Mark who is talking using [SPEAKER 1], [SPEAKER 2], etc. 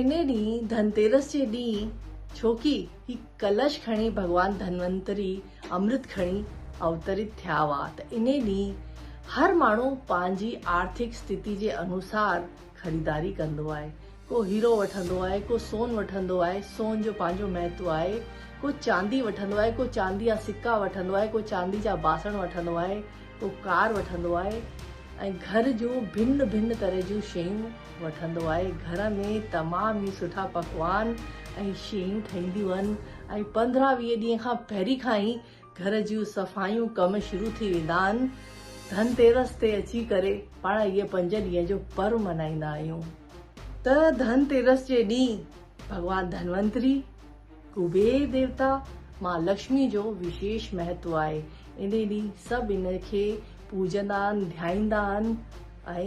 [SPEAKER 1] انهي ڏينهن ڌنتيرس جي ڏينهن ڇوڪي هي ڪلش کڻي ڀڳوان ڌنونتري امرت کڻي اوتريت ٿيا هئا ته انهي ڏينهن هر ماڻهو پنهنجي آرٿڪ استيتي جي انوسار خريداري ڪندو آهي ڪو هيرو وٺندو آهي ڪو سون وٺندو آهي سون جو پنهنجو مهتو آهي ڪو چاندي وٺندو آهي ڪو چاندي جا سڪا وٺندو آهي ڪو چاندي جا باسڻ وٺندو آهي ڪو ڪار وٺندو آهي ۽ گهر جون ڀن ڀن طرح جون شيون وٺندو آهي گهر ۾ تمام ئي سٺا پڪوان ۽ شيون ٺهنديون هن ۽ پندرهن ويهه ڏينهن کان پهرين کان ئي گهر جون صفايون ڪم شروع ٿي ويندا هن ڌن تيرس تي اچي ڪري پاڻ اهي پنج ڏينهن جو پرو منائيندا آهيون ته ڌن تيرس جي ڏينهن ڀڳوان ڌنونتري ڪبير ديوتا مان لڪشمي جو وشيش مهتو آهي ان ڏينهن سڀ ان کي پوجندا آهن ڌيائيندا آهن ۽